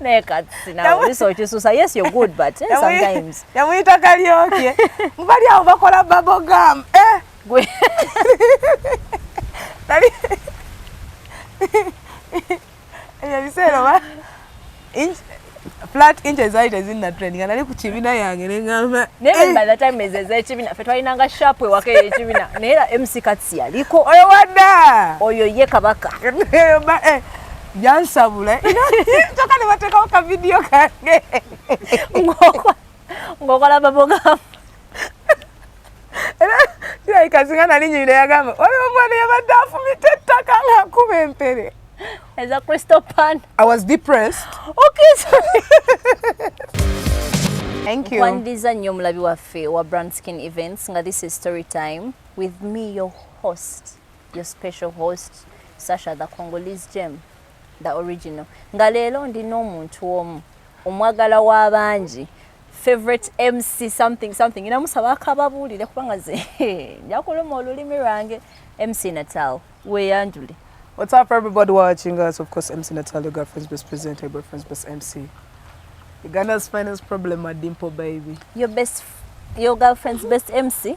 naye kati nawe bisookisusa yes you're good but eh, sometimes yamuyita kalyoke mubali awo bakola babogam eh gwe nali ebyo biseera oba flat inches zali tezinna trend nga nali ku kibina yange nengamba naye eh. by the time ezo ezekibina fe twalinanga sharp ewaka eyekibina naye era mc kats yaliko oyo wadda oyo ye kabaka eh, yansabula kyoka ne bateekawo ka vidiyo kange ng'okola babogamu era kirabika singa nali nyirira yagamba waliwo omwana yabadde afumita ettaka ng'akuba empere as a crystal pan. I was depressed. Okay, sorry. Thank you. Kwandiza nnyo omulabi waffe wa Brand Skin Events nga this is story time with me your host your special host sasha the congolese gem the original nga leero ndi n'omuntu omu omwagala w'abangi favorite mc something something ina musaba akababuulire kubanga ze njakuluma olulimi lwange mc natal weyanjule What's up, everybody watching us? Of course, MC Natalia, girlfriend's best presenter, boyfriend's best MC. Ughanda's finest problem, a dimple baby. Your best, your girlfriend's best MC.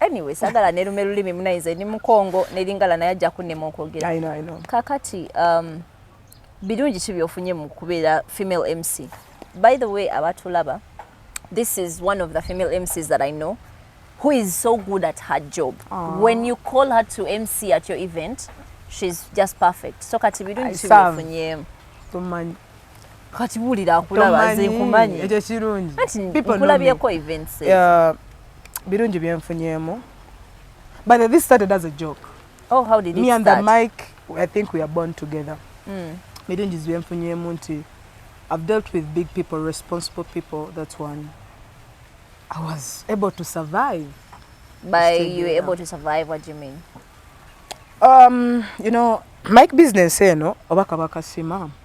anyway sagala nerume lulimi munaize ni mukongo nelingala naye ajja kunema okwogera I know, I know. kakati um, birungi ki byofunye mu kubeera female mc by the way abatulaba this is one of the female mcs that i know who is so good at her job Aww. when you call her to mc at your event she's just perfect so kati birungi ki byofunye kati wulira nkulaba nze nkumanyi ekyo kirungi nkulabyeko events birungi byenfunyemu but this started as a joke oh how did it me and the mic i think we are born together mm. birungi byenfunyemu nti i've dealt with big people responsible people that's one i was able to survive by you were able to survive what do you mean um you know mike business eno oba kabakasima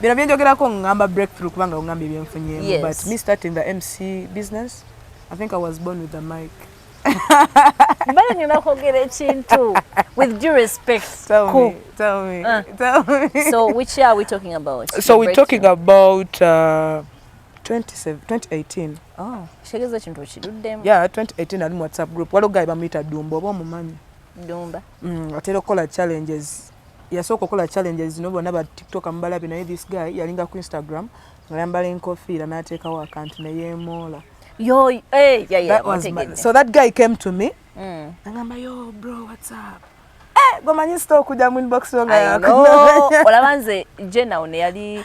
bino byenjogerako ngamba breakthrough kubanga ongamba ebyenfunyemu yes. but me starting the mc business i think i was born with the mic mbale nina kwogera ekintu with due respect tell cool. me, tell me, uh. tell me. so which year are we talking about so we're talking about uh, 2018 oh, shegeza ekintu okiruddemu yeah 2018 ali mu whatsapp group waliwo gayi bamuyita dumba oba omumanyi Dumba. Mm, atera okukola challenges. Yasooka okukola challenges zino bonna ba TikTok amubalabe naye this guy yalinga ku Instagram ng'ayambala enkofiira n'ateekawo akantu ne yeemoola. Yo, hey, eh, yeah, yeah, that was my, so that guy came to me mm. angamba yo bro what's up eh, gomanyi sita okujja mu inbox olaba nze jenawne yali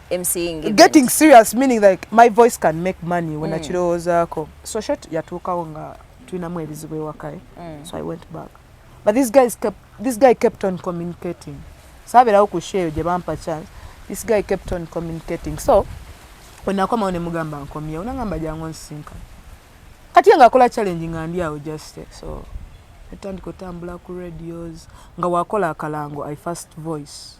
getting serious meaning like my voice can make money when mm. akirowoozaako so short yatuukawo nga tulinamu ebizibu ewakae eh? mm. so i went back but this guy, kept, this guy kept on communicating saaberawo ku show eyo gye bampa chance this guy kept on communicating so wenakomawo nemugamba nkomyewo nangamba jangu nsisinka kati ye ngaakola challenge nga ndi awo just eh, so etandika otambula ku radios nga wakola akalango i first voice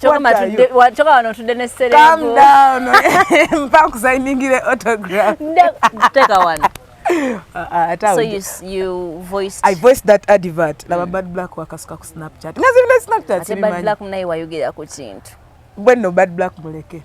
kyoka wano ntudde ne sereempa nkusayiningire autograph teeka wano Uh, so you, you voiced I voiced that advert laba mm. bad black wakasuka ku snapchat nga zibina snapchat ate bad black munaye wayogera ku kintu bwenno bad black muleke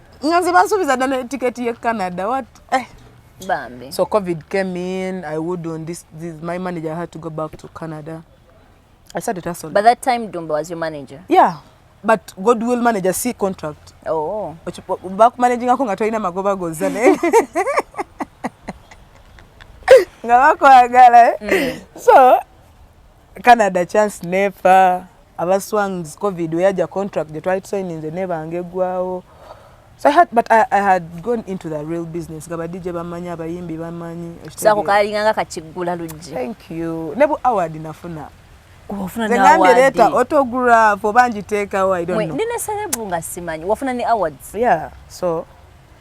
nga nze bansuubiza dda ne tiketi ye canada wat eh. Bambi. so covid came in i would on this, this my manager had to go back to canada i started hustling but that time dumba was your manager yeah but god will manage a c contract oh. bakumanagingako nga tolina magoba goza naye nga bakwagala eh? mm. so canada chance nefa aba swangs covid weyaja contract gye twali tusayininze nebanga eggwawo So I had, but I, I had gone into the real business nga badije bamanyi abayimbi bamanyi sako kalinganga kakigula lujje thank you nebu award nafuna ngambye leeta autograph oba ngiteekawo nina serebu nga simanyi wafuna ne awards yeah so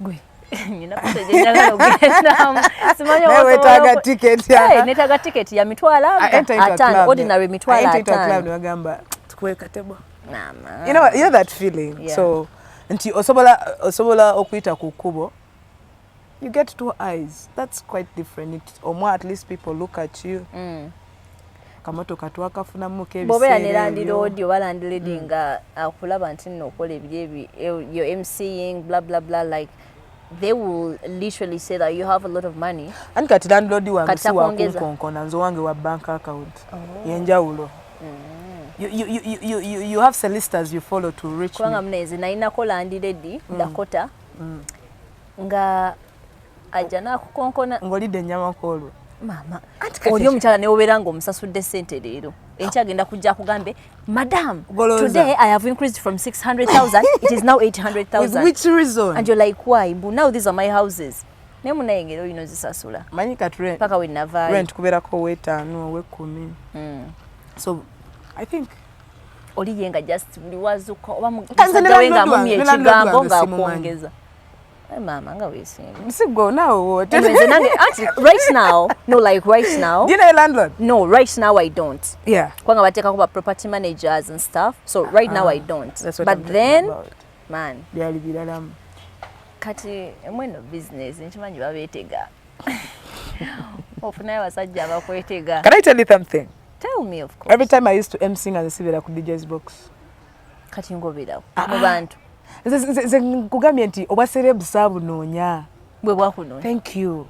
gwe wetaga tiketi netaga tiketi ya mitwalo atano ordinary mitwalo atano newagamba tukwekatebwa you know, you know that feeling yeah. so nti osobola osobola okuyita ku kkubo you get two eyes that's quite different it, omwa at least people look at you mm. kamotoka twakafunamu kebiseera ne landlord oba landlady mm. nga akulaba nti nno okola ebiri ebi eh, your mcing bla bla bla like they will literally say that you have a lot of money and kati landlord wange si wakunkonkona nze wange wa bank account oh. yenjawulo mm. You, you, you, you, you, you have solicitors you follow to reach kubanga mnezi nalinako landlady mm. dakota mm. nga ajja nakukonkona ngolidde ennyama kwolwo maama oli omukyala newobeera nga omusasudde sente leero enkya agenda kujja akugambe madam today i have increased from 600000 it is now 800000 and you're like why but now these are my houses naye munayengera olina ozisasula manyi katpaka wenavaayo kubeerako owetaano owekumi hmm. so i think oliyenga just buli wazuka oba mukisajawe nga mumye ekigambo nga akwongeza Eh, mama nga wesimba sigwe nawe wote nze nange anti right now no like right now do you know your landlord no right now i don't yeah kwanga batekako ba property managers and stuff so right uh, now ah, i don't that's what but I'm then about. man byali biralamu kati mweno business nkimanyi babetega ofunayo abasajja abakwetega can i tell you something tell me of course every time i used to mc nga nzisibira ku dj's box kati ngoberawo ah, ah. mu bantu nze nkugambye nti obwa serebu saabunoonya bwe bwakunoonya thank you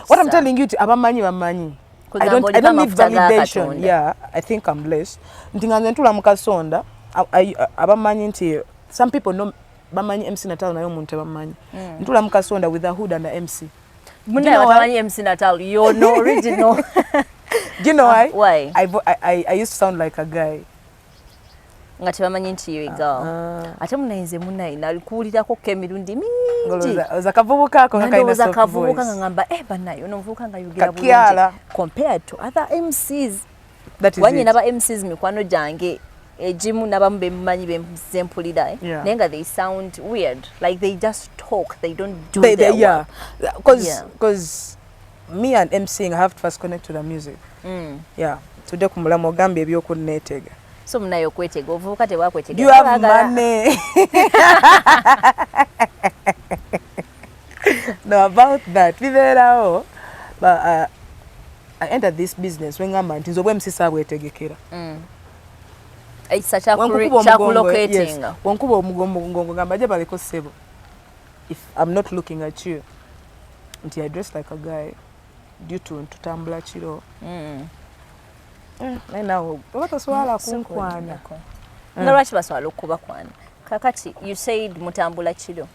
what i'm telling you ti abamanyi bamanyi I don't, I don't need validation yeah i think i'm blessed nti nga nze ntula mu kasonda abamanyi nti some people know bamanyi mc natalo naye omuntu tebamanyi mm. ntula mu kasonda with a hood and a mc Muna you know watamanyi MC Natal, you're no original. Do you know why? Uh, why? I, I, I used to sound like a guy. nga tebamanyi nti yo egal ah, ah. ate munayinze munayi nalikuwulirako ko emirundi mingiolowooza kavubuka ako ngalowooza kavubuka nga ngamba e eh, banaye ono muvubuka nga yogera bulungi compared to other mcs wanye naba mcs mikwano gyange egimu nabamu bemumanyi bempulira eh? yeah. naye nga they sound weird like they just talk they don't do they, their they, yeah. work cause, yeah. cause me and mcing i have to first connect to the music mm. yeah tudde ku mulamu ogambye ebyokunneetega so munaye okwetega ovubuka tebwakwetegaamane no about that bibeerawo uh, I entered this business when ngamba nti nzobwe msisa abwetegekera mm. ekisa kyakulocatinga wankuba omugongo ngongo gamba je baleko sebo if i'm not looking at you nti i dress like a guy due to ntutambula kiro mm. mm, naye nawe oba toswala kunkwana nga lwaki baswala okukubakwana kakati you said mutambula kiro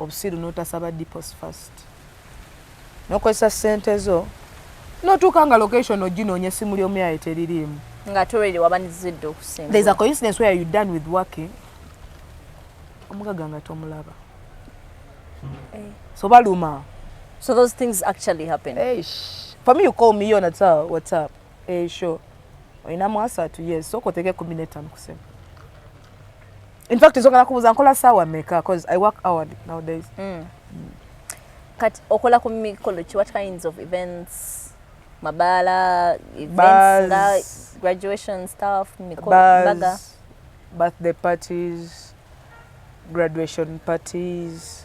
obusiru notasaba depots first nokozesa sente zo notuuka nga location oginoonya essimu ly'omuyaye teririimu nga toredi wabanizidde okusinga there's a coincidence where you done with working omugaga nga tomulaba hey. Eh. so baluma so those things actually happen hey, for me you call me on whatsapp whatsapp hey, sure oyinamu asatu yes sokoteke kumi netano kusema in fact nsonga nakubuuza nkola saawa meka bcause i work hour nowadays mm. Mm. kati okola ku mikolo ki what kinds of events mabaala events graduation stuff mikobaga birthday parties graduation parties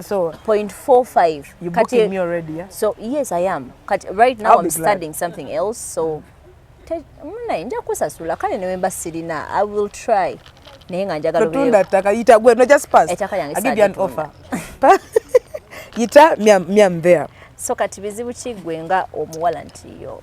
So 0.45. You booking Kati, me already, yeah? So yes, I am. Kati, right now I'll I'm studying glad. something else, so mune nja kusasula kale newemba sirina I will try. Naye nga njagala tunda taka yita gwe no just pass. Etaka yange I give you an offer. yita me I'm, me I'm there. So kati bizibu kigwe nga omuwala nti yo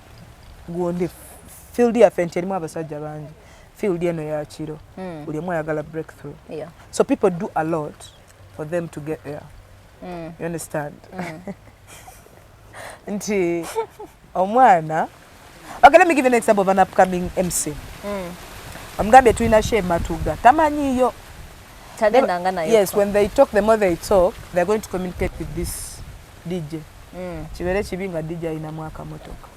gundi field yaffe nti erimu abasajja bangi field eno yakiro mm. buli omu ayagala breakthrough yeah. so people do a lot for them to get there mm. you understand mm. nti omwana okay let me give you an example of an upcoming mc mm. omugambye tulina she matuga tamanyiyo yes when they talk the more they talk they're going to communicate with this DJ mm. kibeere kibi nga DJ alinamu akamotoka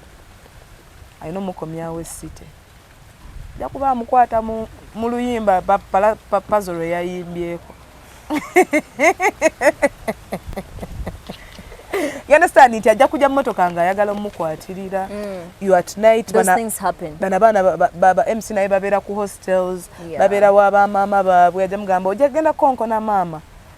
alina omukomyawo esite ajja kuba amukwata mu luyimba pazo lwe yayimbyeko you understand nti ajja kujja mumotoka nga ayagala omukwatirira mm. you at night bana baana baba mc naye babeera ku hostels yeah. babeera wa bamaama baabwe ajja mugamba ojja kugenda konkona maama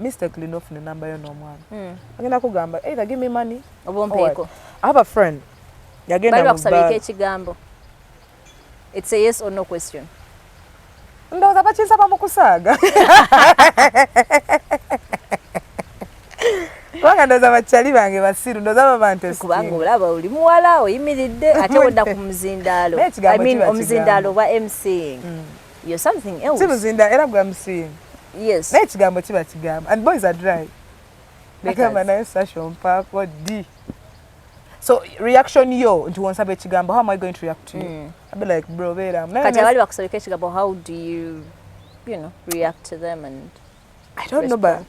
mistakenly nofuna enamba yo n'omwana hmm. agenda kugamba either give me money obompeeko i have a friend yagenda bakusabika ekigambo it's a yes or no question ndowooza bakinsaba mu kusaaga kubanga ndoza bakyali bange basiru ndoza babante kubanga olaba oli muwala oyimiridde ate odda ku muzindaalo omuzindaalo oba mcing mm. You're something else. Kimuzinda era gwa msimu. Yes. Naye kigambo kiba kigambo. And boys are dry. Agamba naye Sasha mpaako di. So reaction yo nti wonsaba ekigambo how am I going to react to you? Mm. I'll be like bro beera. Kati abali bakusabika ekigambo how do you you know react to them and I don't know, but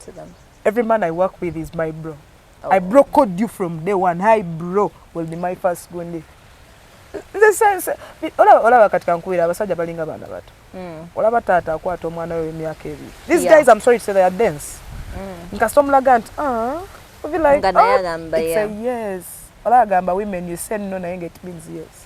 every man I work with is my bro. Oh. I bro code you from day one. Hi bro will be my first gundi. The sense ola ola wakati kankuira abasaja balinga bana bato. Mm. Ola batata akwata omwana we myaka ebi. These yeah. guys I'm sorry to say they are dense. Mm. Nkasomla gant. Ah. We'll be like, oh, it's a yes. Ola agamba women you say no na it means yes.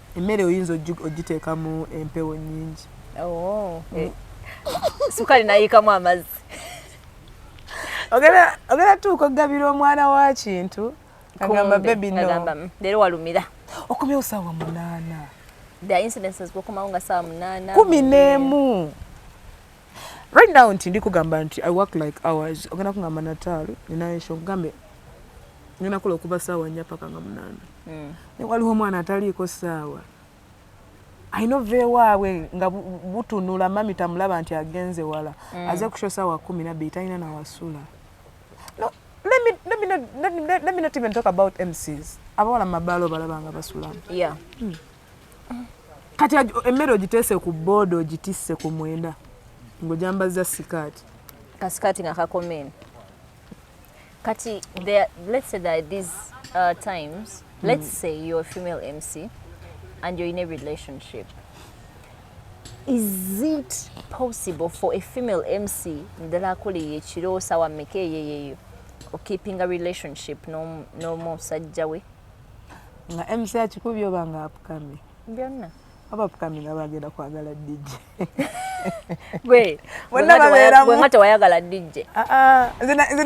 emmere oyinza ogiteekamu empewo nyingi oh, mm. eh. sukali nayiikamu amazzi ogenda tuuka okugabira omwana wa kintu agamba bebi no leero walumira okomewo saawa munaana the incidences bwokomawo nga saawa munaana kumi n'emu right now nti ndikugamba nti i work like hours ogenda kungamba nataalo ninayo nsho nkugambe ngenda kola okuva saawa nnya paka nga munaana mm. ne waliwo omwana ataliiko saawa alina ova ewaabwe nga butunula mami tamulaba nti agenze wala mm. aze kusho saawa kumi nabbiri talina nawasula no, let me, let me not, let me, let me not even talk about mcs abawala mumabaala obalaba nga basulamu yeah. mm. kati emmere ogiteese ku booda ogitisse ku mwenda ng'ojambazza sikaati kasikaati nga kakomeni Kati there let's say that these uh, times mm. let's mm. say you're a female MC and you're in a relationship is it possible for a female MC ndala akole yekiro sawa meke yeyeyo or keeping a relationship no no musajja we nga MC akikubyo banga apukame byonna abafukamira bagenda kwagala DJ gwe wonna babeeramu nga tewayagala DJ ah, ah.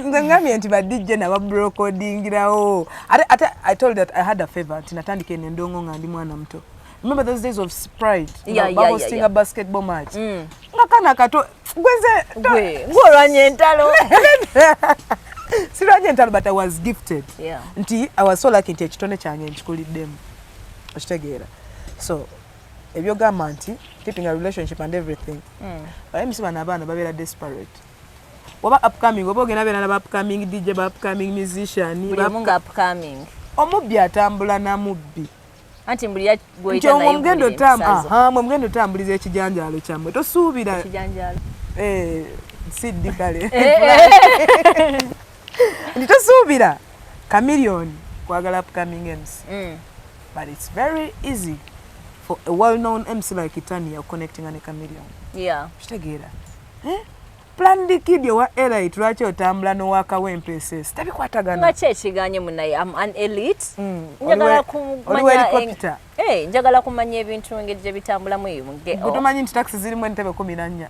nze ngambye nti ba DJ naba brokodingirawo ate ate I told that I had a favor nti natandika eno endongo nga ndi mwana muto remember those days of sprite yeah, yeah, yeah, yeah. a basketball match mm. nga kana kato gweze gwe olwanye entalo sirwanye entalo but I was gifted yeah. nti I was so lucky nti ekitone kyange nkikuliddemu okitegeera so ebyogamba nti keeping a relationship and everything mm. baye misi bano abaana babeera desperate oba upcoming oba ogenda beera naba upcoming dj ba upcoming musician omubbi atambula namubbi anti mbuli ya goita nayo mugendo tam aha mwe mugendo tambuliza ekijanjalo kyamwe tosuubira ekijanjalo eh siddi kale eh, eh. nti tosuubira chameleon kwagala upcoming mc mm. but it's very easy for a well known mc like itania connectinga ne chameleon yeah. kitegeera eh? planned kid owa elite lwaki otambula nowakawo empss tebikwatagana kyekiganye munaye am an elite mm. njagala kumanya eh, njagala kumanya ebintu engeri gyebitambulamu eyo muge oh. tumanyi nti taxi zirimu entebe kumi nannya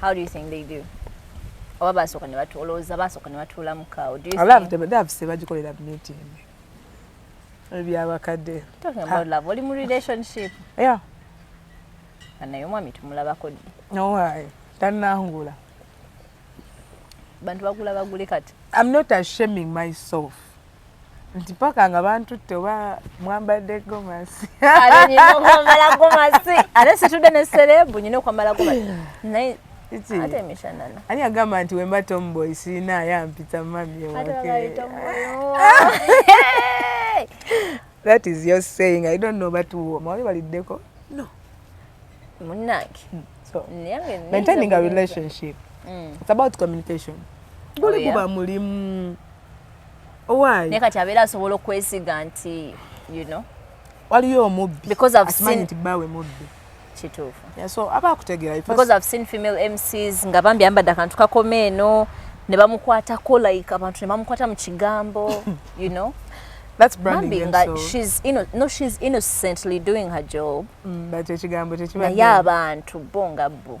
How do you think they do? Oba basooka ne batuula, olowooza basooka ne batuula mu kaawo. Do you think? Alafu tebadavuse bagikolera meeting. Ebyabakadde. Talking about love, oli mu relationship. Yeah. Naye omwami tumulabako ddi? No way. Tannangula. Bantu bagula bagule kati. I'm not ashaming myself. nti paka nga bantutte oba mwambadde gomasi aleninaokwambala gomasi ate situdde ne serebu nyina okwambala gomasi naye ate emishanana ani agamba nti wemba tomboy sirina ayampita mami ewake that is your saying i don't know but mwali baliddeko no munange so maintaining a relationship mm. it's about communication guli oh, guba mulimu naye kati abeera asobola okwesiga nti you know waliyo omubbi because i've seen nti bawe mubbi kituufu yeah, so aba akutegera because i've seen female mcs nga bambi ambadde akantu kakoma eno ne bamukwatako like abantu ne bamukwata mu kigambo you know That's branding Mambi, so. she's ino, no she's innocently doing her job mm, but ekigambo tekiba naye abantu bo nga bo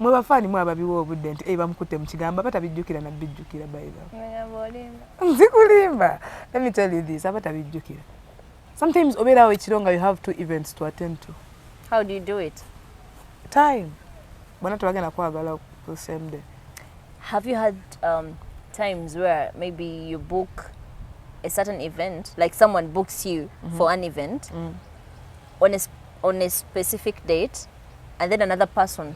mwe bafaani mwe ababiwa obudde nti e bamukutte mu kigambo aba tabijjukira nabbijjukira nzikulimba let me tell you this aba tabijjukira sometimes obeerawo ekiro nga you have two events to attend to how do you do it time bona tebagenda kwagala ku same day have you had um, times where maybe you book a certain event like someone books you mm -hmm. for an event mm. on, a, on a specific date and then another person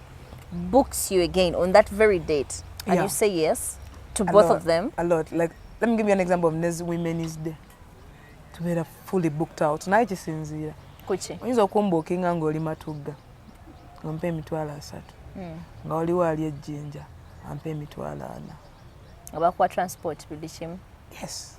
books you again on that very date and yeah. you say yes to a both lot, of them a lot like let me give you an example of nezi women's day tubeera fully booked out naye kisinziira kuki oyinza okumbuukinga ng'oli matugga ng'ompa emitwalo asatu hmm. nga waliwo ali ejjinja ampa emitwalo ana abakuwa transport buli kimu yes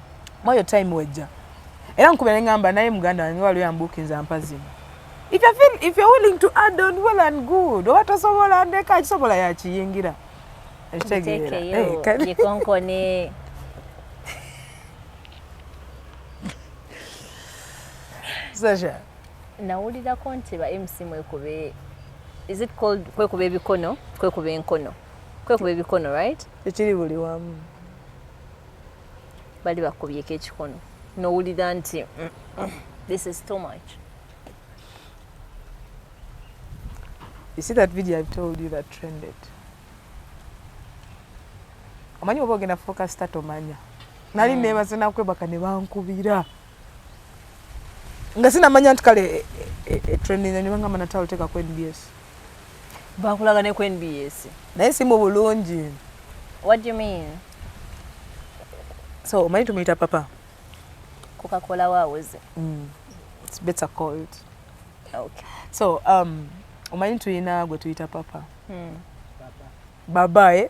mwayo time wejja era nkubira ne ngamba naye muganda wange waliwo yambuukinza mpazimu if you feel if you're willing to add on well and good oba tosobola ndeka akisobola yakiyingira ekitegeera eh, gikonkone sasha nawulirako nti ba mc mwekube is it called kwekuba ebikono kwekuba enkono kwekuba ebikono right ekiri buli wamu bali bakubyeko ekikono nowulira nti mm, mm, this is too much You see that video I've told you that trended. Omanyi oba ogenda focus tatomanya. Nali mm. nebaze nakwebaka ne bankubira. nga sinamanya nti kale e, e, e, trending ne bangamba natalo teka ku nbs bakulaga ne ku nbs naye si mu bulungi what do you mean so omanyi tumuyita papa coca-cola wawoze mm. it's better called okay. so um, omanyi tulina gwe tuyita papa mm. baba eh?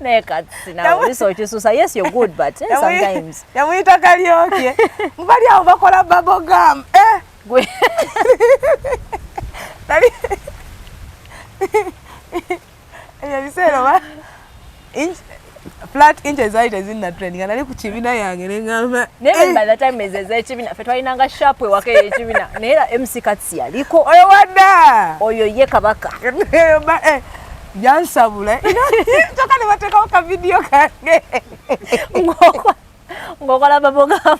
naye kati nawe liso okisusa yes you're good but eh, sometimes yamuyita kalyoke mubali awo bakola babo gam eh gwe tali ebyo biseera oba flat inches zali tezinna trend nga nali ku kibina yange nengamba naye eh. by the time ezo ezekibina fe twalinanga sharp ewaka eyekibina naye era mc kats yaliko oyo wadda oyo ye kabaka eh, yansabula kyoka ne bateekawo ka vidiyo kange ng'okola babogamu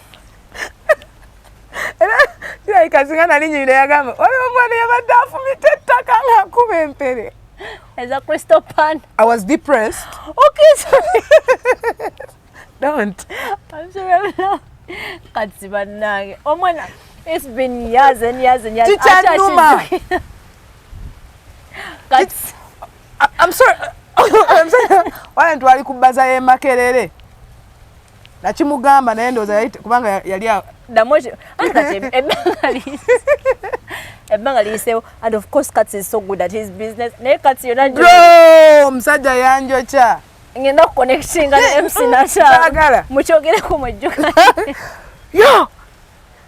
era kirabika singa nali nyirira yagamba waliwo omwana yabadde afumita ettaka ng'akuba empere as a crystal pan. I was depressed. Okay, sorry. Don't. I'm sorry. I'm not. Katsi banange. Omwana, it's been years and years and years. Chicha Numa. wala ntwali ku bbaza y'e Makerere nakimugamba naye ndowooza kubanga yali ebbanga liyiseewo and of course cats is so good at his business naye cats yona bro omusajja yanjokya ngenda kuconnectinga ne mc nashaagala mukyogereko mwejjuka yo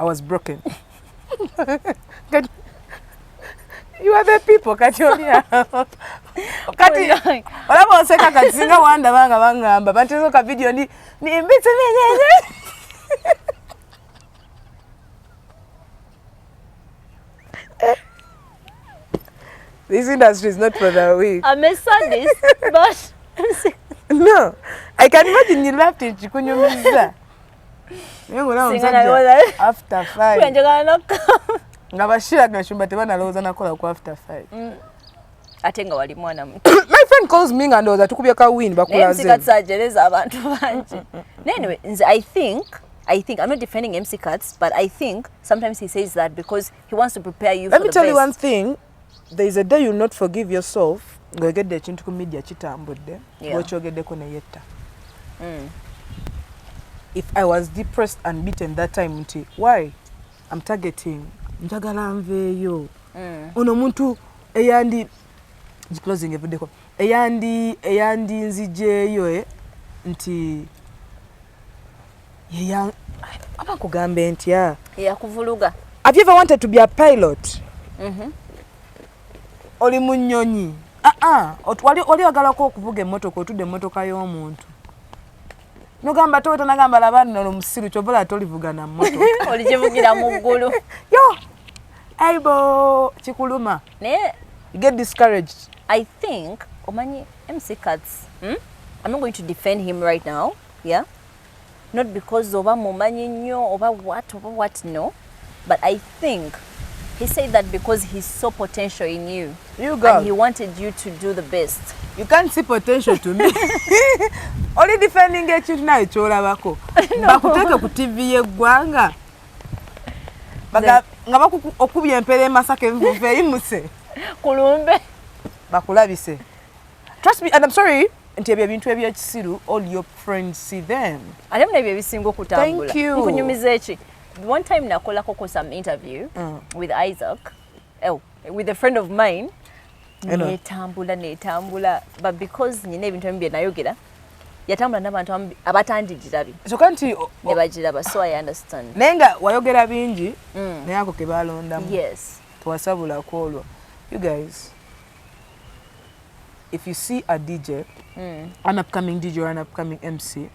I was broken. you are the people kati oli awo kati olaba oseka kati singa wanda banga bangamba batezo ka video ndi nimbitse menyenye This industry is not for the weak. I'm a sadist, but no, I can imagine you laughed in Chikunyumiza. naye ngaolaba omusajja after five nga bashira gashumba tebanalowooza nakola ku after five mm. ate nga wali mwana muto my friend calls me nga ndowooza tukubye ka win bakulazeajereza abantu bangi mm, mm, mm, anyway nze i think I think I'm not defending MC Cuts, but I think sometimes he says that because he wants to prepare you. Let me tell best. you one thing. there is a day you not forgive yourself ng'oyogedde ekintu ku media kitambudde bwokyogeddeko ne yetta mm. if i was depressed and beaten that time nti why am targeting njagala nveeyo mm. ono omuntu eyandi closing evuddeko eyandi eyandi nzijeeyo eh, nti yeya aba kugambe ntya yakuvuluga have you ever wanted to be a pilot mhm oli munyonyi ah ah wali wali agala ko kuvuga emotoka otude emotoka yo omuntu nogamba to tana gamba la bana no musiru chobola to livuga na moto oli jivugira mu gulu yo aibo chikuluma ne get discouraged i think omanyi mc cuts hmm? i'm not going to defend him right now yeah not because oba mumanyi nnyo oba what oba what no but i think he said that because he saw potential in you, you girl. and he wanted you to do the best you can't see potential to me oli defending ekintu nawe kyolabako bakuteeke ku tv yeggwanga nga okubya empera emasaka envuva eyimuse kulumbe bakulabise trust me and i'm sorry nti ebyo ebintu ebyekisiru all your friends see them ate muna ebyo ebisinga okutambula nkunyumiza eki one time nakolako ko some interview mm. with isaac oh, with a friend of mine netambula netambula but because nyina ebintu ebimu byenayogera yatambula nabantu abatandijirabi kyoka nti nebagiraba so i understand naye nga wayogera bingi mm. naye ako kebalondamu yes tewasabulako olwo you guys if you see a DJ, mm. an upcoming DJ or an upcoming MC,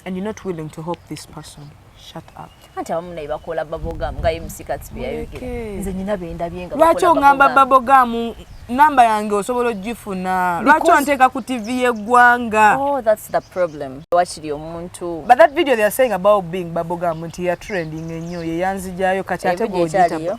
and you're not willing to help this person, shut up. anti abamu naye bakola babogamu nga mc katsibiyayogera nze nyina bendabye nga lwaki ongamba babogamu namba yange osobola ogifuna lwaki onteeka ku tv yeggwanga oh, wakiri omuntu but that video theyare saying about being babogamu nti yatrending ennyo yeyanzijayo kati ate gogita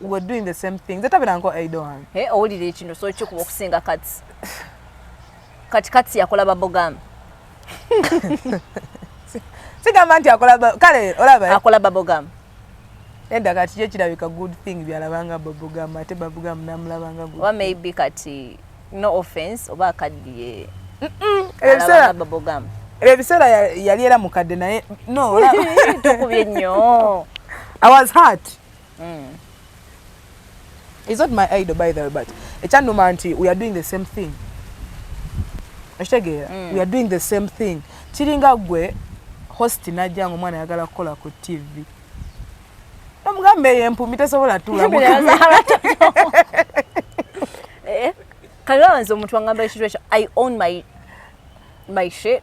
were doing the same thing nze tabira nko aido wange eh owulira ekino so kikuba okusinga kati kati kati yakola babogamba sigamba nti akola kale olaba akola babogamba enda kati kyo kirabika good thing byalabanga babogamba ate babogamba namulabanga good oba maybe kati no offense oba akaddiye ebiseera babogamba ebiseera yali era mukadde naye no tokubye nnyo i was hurt mm. is not my idol by the way but ekyannuma nti we are doing the same thing okitegeera mm. we are doing the same thing kiringa gwe host najja nga omwana ayagala kukola ku tv omugambe eyo empumi tesobola tulamu eh, kale wanze omuntu wangamba ekintu ekyo i own my, my shit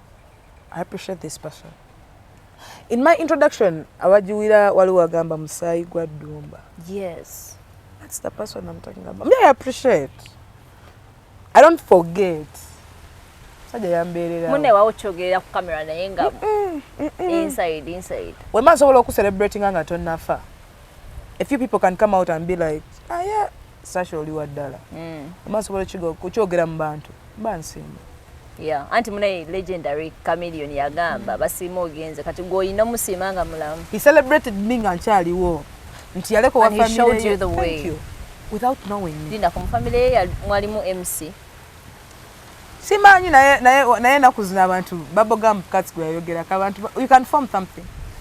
I appreciate this person. In my introduction, awajiwira wali wagamba musayi gwa dumba. Yes. That's the person I'm talking about. Me, I appreciate. I don't forget. Saja yambeerera. Mune wa ochogeera ku camera naye nga inside inside. We masobola oku celebrating nga tonnafa. A few people can come out and be like, "Ah yeah, sasha oli wa ddala mm. oba nsobola kukyogera mu bantu mba nsiima Yeah. anti munaye legendary chameleon yagamba basiima ogenze kati gweolina musiima nga mulamu he celebrated me nga nkyaliwo nti yaleko wa family without knowing me linda ku family ye mwalimu mc simanyi naye naye naye nakuzina abantu baboga mukatsi gwe yayogerako abantu you can form something